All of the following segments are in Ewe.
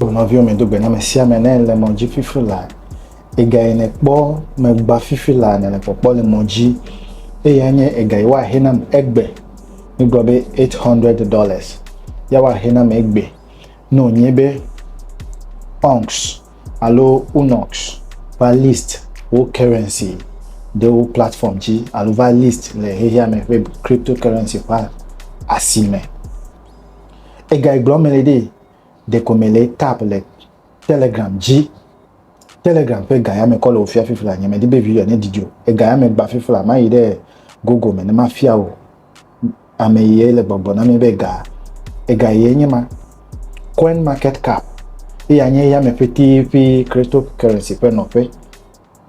O nɔviwo medo gbe na me sia me ne le mɔ dzi fifi la, ega yi nekpɔ megba fifi la ne le kpɔkpɔ le mɔ dzi, eye anye ega yi woahe nam egbe. Migblɔ be 800 dollars ya woahe nam egbe ne wònye be onks alo unox va list wo currency ɖe wo platform dzi alo va list le xexea me ƒe cryptocurrency ƒe asi me. Ega yi gblɔ me le ɖee. Ɖeko mele tap le Telegram dzi. Telegram ƒe ga ya me kɔ le wò fia fifla. Nye me di be video ne didi o. Ega ya me gba fifla. Ma yi ɖe Google me ne ma fia o. Ame yi le gbɔgbɔ na mi be ga. Ega yi nye ma. Coin market cap. Eya nye ya me ƒe ti ƒe cryptocurrency ƒe nɔƒe.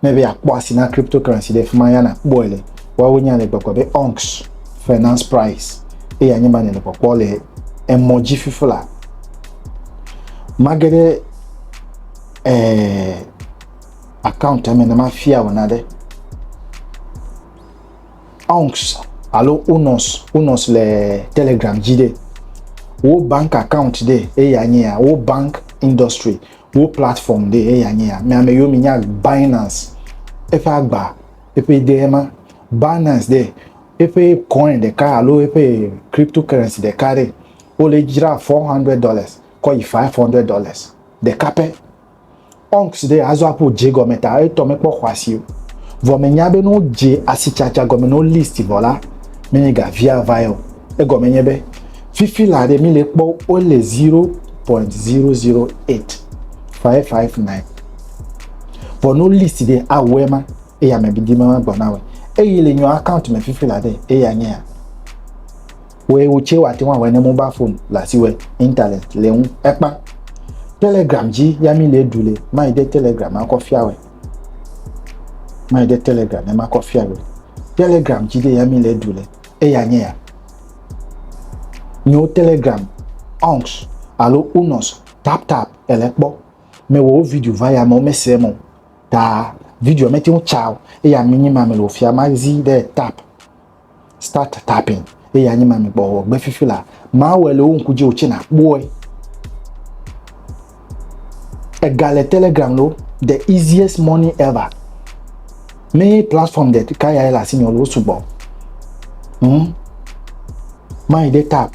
Ne be yeakpɔ asi na cryptocurrency ɖe, fi ma ya nàkpɔe le. Woawo nya le gbɔgblɔ be Onx Finance Price eye anye be nèle kpɔkpɔ le emɔ dzi fifla. Mage ɖe eh, account me ne mafia wò naɖe. Onx alo Unos, Unos le Telegram dzi ɖe. Wo bank account ɖe eye anye ya, wo bank industry. Wo platform ɖee eya nye ya. Mia me yiwo mi nya Binance eƒe agba eƒe ɖee ma. Binance ɖe eƒe coin ɖeka alo eƒe crypto currency ɖeka ɖe wo le dzra four hundred dollars kɔ yi five hundred dollars ɖeka pɛ. Onx ɖe azɔ aƒo dze gɔme ta etɔ me kpɔ xɔasi o. Vɔ me nya be ne wo dze asitsatsa gɔme ne wo list vɔ la, me nye ga via vae o. Egɔme nye be. Fifi la ɖe mi le kpɔ wole 0.008559. Vɔ no list ɖe awɔe ma eye ame bidi ma ma gbɔna wɔ. Eye le nyɔ account me fifi la ɖe eye anya ya. Wɔ ewo tse wa te wa wɔ ne mobile phone la si wɔ internet le ŋu ekpa. Telegram dzi ya mi le du le ma yi de Telegram ma kɔ fia wɔ. Ma yi de Telegram ne ma kɔ fia wɔ. Telegram dzi de ya mi le du le eye anya ya. Nyo Telegram, Onx alo Unos taptap èle kpɔ. Mewɔ wo video va ya me wo mesee me o. Ta video mete ŋu tsa o eye ami nyi ma me le wofia mazi ɖe tap start tapping eye anyi ma me gbɔ gbe fifi la. Mawɔe le wo ŋku dzi o tse nakpɔe. ega le telegram lo the easiest money ever me platform de ka ya le asi nyɔlo sugbɔ hmm mayi de tap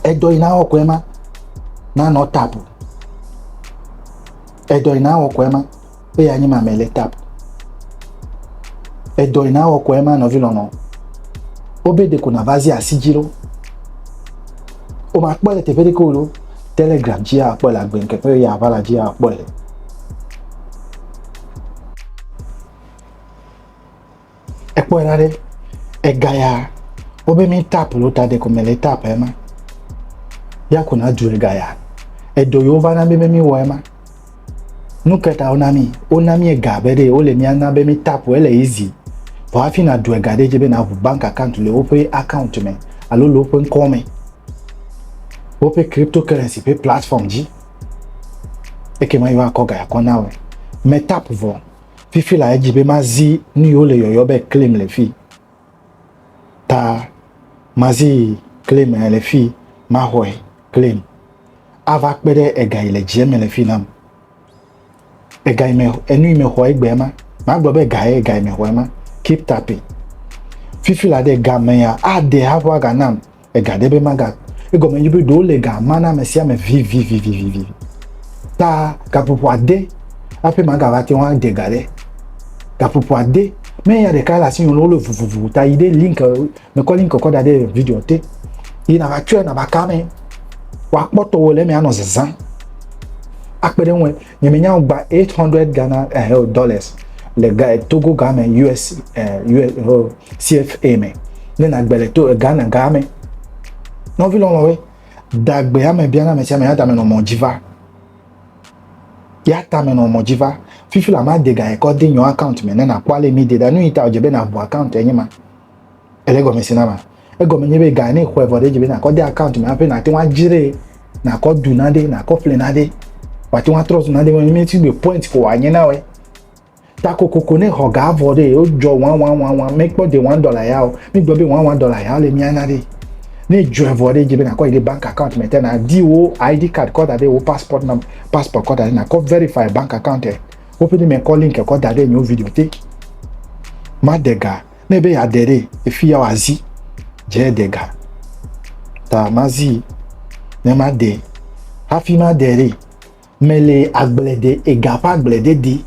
edɔ yi na wɔ kɔɛ ma na nɔ tap edɔ yi na wɔ kɔɛ ma Eya anyi ma mele tap. Edɔ yi na wɔkɔ ema nɔvi lɔnɔ. Wobe de ko na vazi asi dzi lo. O ma kpɔ le teƒe ɖe ko lo. Telegram dzi ya kpɔ le agbe nke pe ya vala dzi ya kpɔ le. ekpɔe la ɖe ega ya wobe mi tap lo ta de kɔmɛ le tap ema ya ko na du ega ya edo yo va na be mi wɔ ema nu keta wona mi wona mi ega be ɖe wole mi ana be mi tap ele easy vɔ hafi na du ega ɖe dze be na ʋu bank account le woƒe account me alo le woƒe ŋkɔ me woƒe cryptocurrency ƒe platform dzi ekema yewoakɔ ga ya kɔ na wɔ me tap vɔ fifi la edzi be mazi nu yiwo le yɔyɔ be claim le fi ta mazi claim le fi maxɔe claim ava kpe ɖe ega yi le dzie me le fi nam ega yi me enu yi me xɔ egbea ma magblɔ be ega ye ega yi me xɔ ema keep tapping fifi la de gamea ade haƒo aga nam ega ɖe be maga egɔme nye be ɖewo le ga ma na ame sia ame vivivivivi ta gaƒoƒo ade aƒe magava te ŋu ade ga ɖe gaƒoƒo ade mɛ ya ɖeka le asi nyɔnu wole vuvuvu ta yi ɖe link mekɔ link kɔ da ɖe video te yi na va tsɔe na va ka mɛ wakpɔtɔ wo le mɛ anɔ zazã akpe ɖe ŋu Nye me nya gba 800 Ghana eh, oh, dollars le ga, Togo ga me US, eh, US oh, CFA me ne na gbe le to eh, Ghana ga me. Nɔvi lɔlɔwe dagbe ame bia na me sia me ya tame nɔ mɔ dzi va. Ya tame nɔ mɔ dzi va. Fifi la ma de ga ekɔ de nyɔ account me ne na kpɔ ale mi de da nu yi ta o dze be na bu account enye ma. Ele gɔme si na ma. Egɔme nye be ga ne xɔe vɔ ɖe dzi be nakɔ de account me hafi nate ŋu adzrae, nakɔ du naɖe, nakɔ ƒle naɖe. Wòate ŋu atrɔ zu naɖe me mi si gbe point ko wòanye na wòe. Ta kokoko ne xɔ ga vɔ ɖe wodzɔ wɔn wɔn wɔn wɔn mekpɔ de wɔn dɔla ya o. Mi gblɔ be wɔn wɔn dɔla ya le mia na ɖe. Ne dzɔe vɔ ɖe dzi be nakɔ yi ɖe bank account me te na di wo ID card kɔ da ɖe wo passport nam passport kɔ da ɖe nakɔ verify bank account e. Woƒe ne mekɔ link kɔ da ɖe nyewo video te. Ma de ga. ne be yeade ɖe efi ya wòazi dze de ga ta mazi ne made hafi made ɖe mele agble de ega ƒe agble de di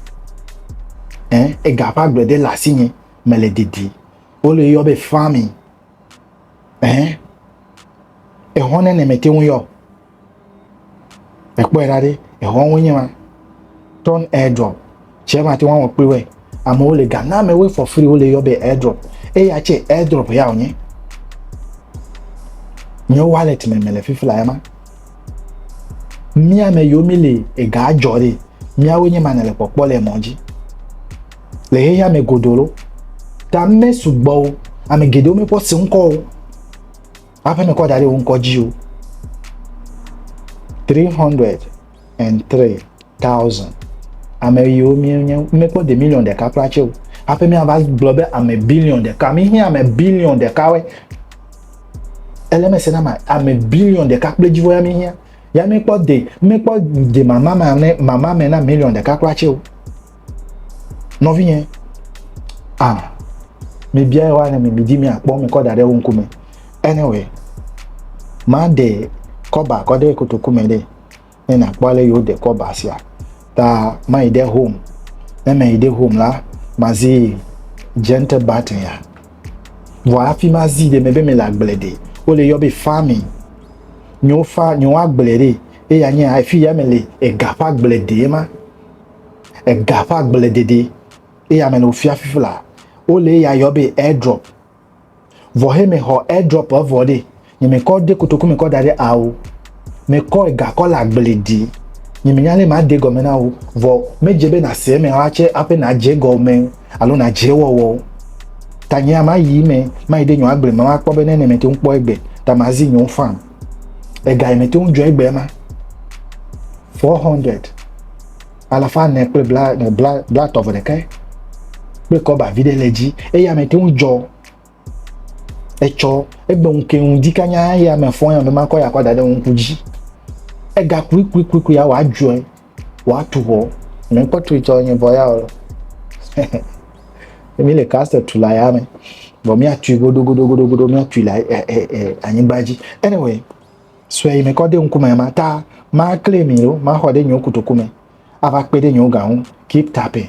eh, ega ƒe agble de le asi nye mele didi wole yɔ be farming eh, ehɔne ne mete ŋu yɔ Ekpɔe ɖa ɖe, exɔwo nye ma. Turn airdrop. Tsɛ mate ŋu awɔ kpli wɔe. Amewo le ga na amewoe for free wole yɔ be airdrop. Eya tsɛ airdrop ya wònye. Nye wallet me mele fifi la ema. Mía me yiwo mi le ega dzɔ ɖe, míawo nye ma nele kpɔkpɔ le mɔ dzi. Le xexea me godoro, ta me sugbɔwo, ame geɖewo mekpɔ se ŋkɔ o. Aƒe me kɔ da ɖe wo ŋkɔ dzi o. Three hundred and three thousand. Ame yiwo míenye míekpɔ de miliɔn ɖeka kura tse o. Aƒe mi ava gblɔ be ame biliɔn ɖeka. Mi hiã ame biliɔn ɖeka we. Ele me se na ma ame biliɔn ɖeka kple dzivo ya mi hiã. Ya mi kpɔ de mi kpɔ de mama me mama me na miliɔn ɖeka kura tse o. nɔvinye a ah, mebia ye woane me medi mi akpɔ mekɔ da ɖe wo ŋkume anyway maɖe kɔba kɔ ɖe kotoku me ɖe ne nakpɔ ale yi woɖe kɔba sia ta mayi ɖe home ne meyi ɖe home la mazi gentle button ya vɔ hafi mazi ɖe mebe mele agble ɖe wole yɔ be farming nyewo fa nyewo agble ɖe eya nye afi ya mele ega ƒe agble ɖe ma ega ƒe agbledede eye ame le wofia fifi la wole eya yɔ be airdrop vɔ he mexɔ airdrop evɔ ɖe nye mekɔ de kotoku mekɔ da ɖe awo mekɔ ega kɔ le agble di nye menya lɛ made gɔme na wo vɔ medze be nase eme wa tsɛ aƒe nadze gɔme alo nadze wɔwɔ ta nye ama yi me mayi ɖe nyɔ agble me makpɔ be ne ne mete ŋu kpɔ egbe ta mazi nyɔ fan ega yi mete ŋu dzɔ egbe ma four hundred alafa ne kple bla ne bla bla tɔvɔ ɖeka kple kɔba vi ɖe le dzi eye ame te ŋu dzɔ etsɔ egbe ŋu ke ŋu di kanya eye ame fɔ ya ame ma kɔ ya kɔ da ɖe ŋku dzi ega kuikuikuikui ya wɔ adzɔe Woatu xɔ. Ne kpɔ tui tsɔ nye vɔ ya o. Mi le castle tu la ya me. Vɔ mi atui godo godo godo godo mi atui la eh eh eh anyigba dzi. Anyway, sue yi me kɔ de ŋkume ma ta ma claim yi o ma xɔ de nyo kutoku me. Ava kpe de nyo ga ŋu. Keep tapping.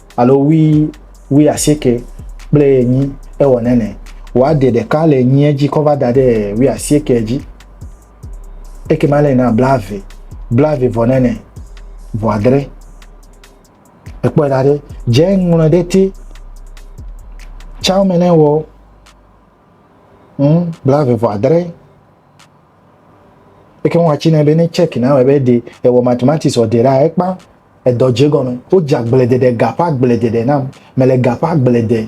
alo wui wui asieke kple enyi ewɔ nene wòa de ɖeka le enyia dzi kɔ va da ɖe wui asieke dzi ekema le na blave blave vɔ nene vɔ adre ekpɔe da ɖe dze ŋlɔ ɖe te tsao me ne wɔ ŋ blave vɔ adre ekema wɔatsi ne be ne check na wɔ ebe de ewɔ mathematics ɔde ɖa ekpa edɔ dze gɔme. Wodze agbledeɖe, ga ƒe agbledeɖe nam. Mele ga ƒe agble de.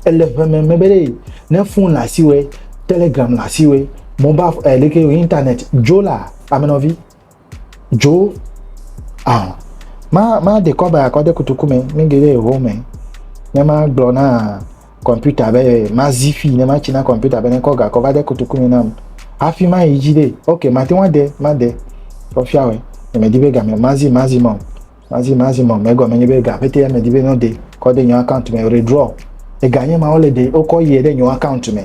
Ele ʋeme me be ɖe ne fon le asiwòe, telegram le asiwòe, mobal eh, leke wò internet dzo la, amenɔvi dzo. Ah, ma ma dekɔ ba kɔ de kutuku me, mi gele ʋome. Ne ma gblɔ na kɔmpita be mazi fi ne matsi na kɔmpita be nekɔ gakɔ va de kotoku me nam hafi ma yi dzi ɖe ok mate ŋu ade made kɔfia wɛ emedi be game mazi mazi mɔ mazi mazi mɔ megɔme nye be ga pete emedi be nɔde kɔ de nyɔ account me redraw ega nye ma wole de wokɔ yie ɖe nyɔ account me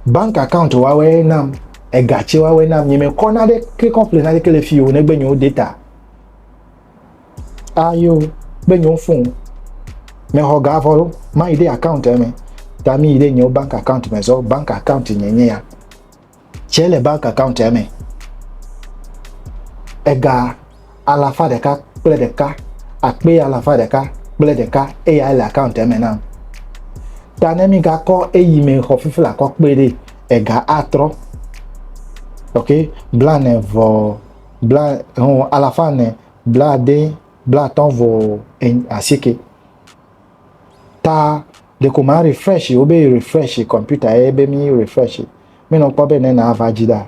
bank account wawe nam ega tse wawe nam nye mekɔ na ɖe ke kɔmple na ɖe ke le fi o negbe nyewo data Ayo, ah, be nyo fun. Me ho ga volo, ma ide account me. Ta mi ide nyo bank account me zo, bank account nye nye ya. Che le bank account me. Ega alafa deka kple deka, akpe alafa deka kple deka eya le account me na. Ta ne mi ga ko eyi me ho fifi la ko kpe de ega atro. Okay, blane vo bla ho alafa ne bla de bla tɔn vɔ en asike ta de ko ma refresh o be refresh computer e be mi refresh mi no kpɔ be ne na va ji da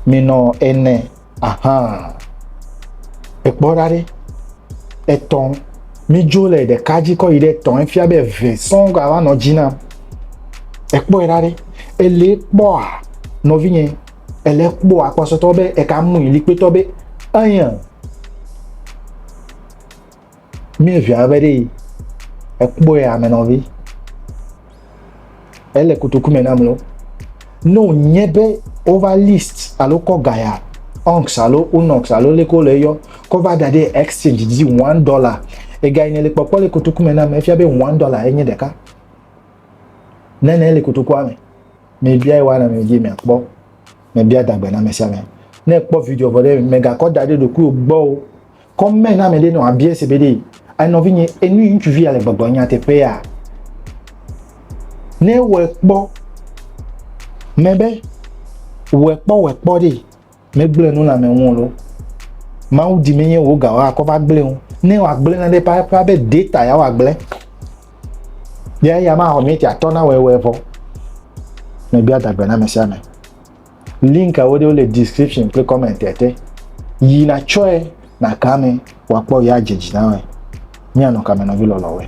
mi no ene aha ekpɔ ɖa ɖe etɔn mi dzo le ɖeka dzi kɔ yi ɖe etɔn efia be eve sɔn gba va nɔ dzi na ekpɔ ɖa ɖe ele kpɔa nɔvinye ele kpɔ akpɔsɔtɔ be eka mu ili kpetɔ be anya mi via be ɖe ekpɔ ya me nɔvi ele kutuku me nam lo no nye be over list alo kɔ gaya onx alo unox alo leko le yɔ kɔ va da ɖe exchange dzi one dollar ega yi ne le kpɔkpɔ le kutuku me nam efia be one dollar enye ɖeka nene le kutukua me Mebiae wana mi dzi miakpɔ. Mebia dagbe na ame sia ame. Ne èkpɔ video vɔ ɖe, mègakɔ da ɖe ɖokuiwò gbɔ o. Kɔ mɛ na ame ɖe ne wòabia se be ɖe, A nɔvinye, enu yi ŋutsuvi ya le gbɔgblɔm nyateƒea? Ne ewɔe kpɔ mɛ be wòekpɔ wòekpɔ ɖe, Megblẽ nu le ame ŋu o loo. Mawu di menye wò ga woakɔ va gblẽ o. Ne wòagblẽ nane ƒãƒã be data ya wòagblẽ, ya eya ma xɔ miniti atɔ̃ na wɔe wɔe vɔ. Mebia dagbe na ame sia ame. Link awo ɖewo le description kple comment te. Yi natsɔe naka ame wòakpɔ ya dze dzi na wɔe. Míanɔ kame nɔvi lɔlɔ̃woe.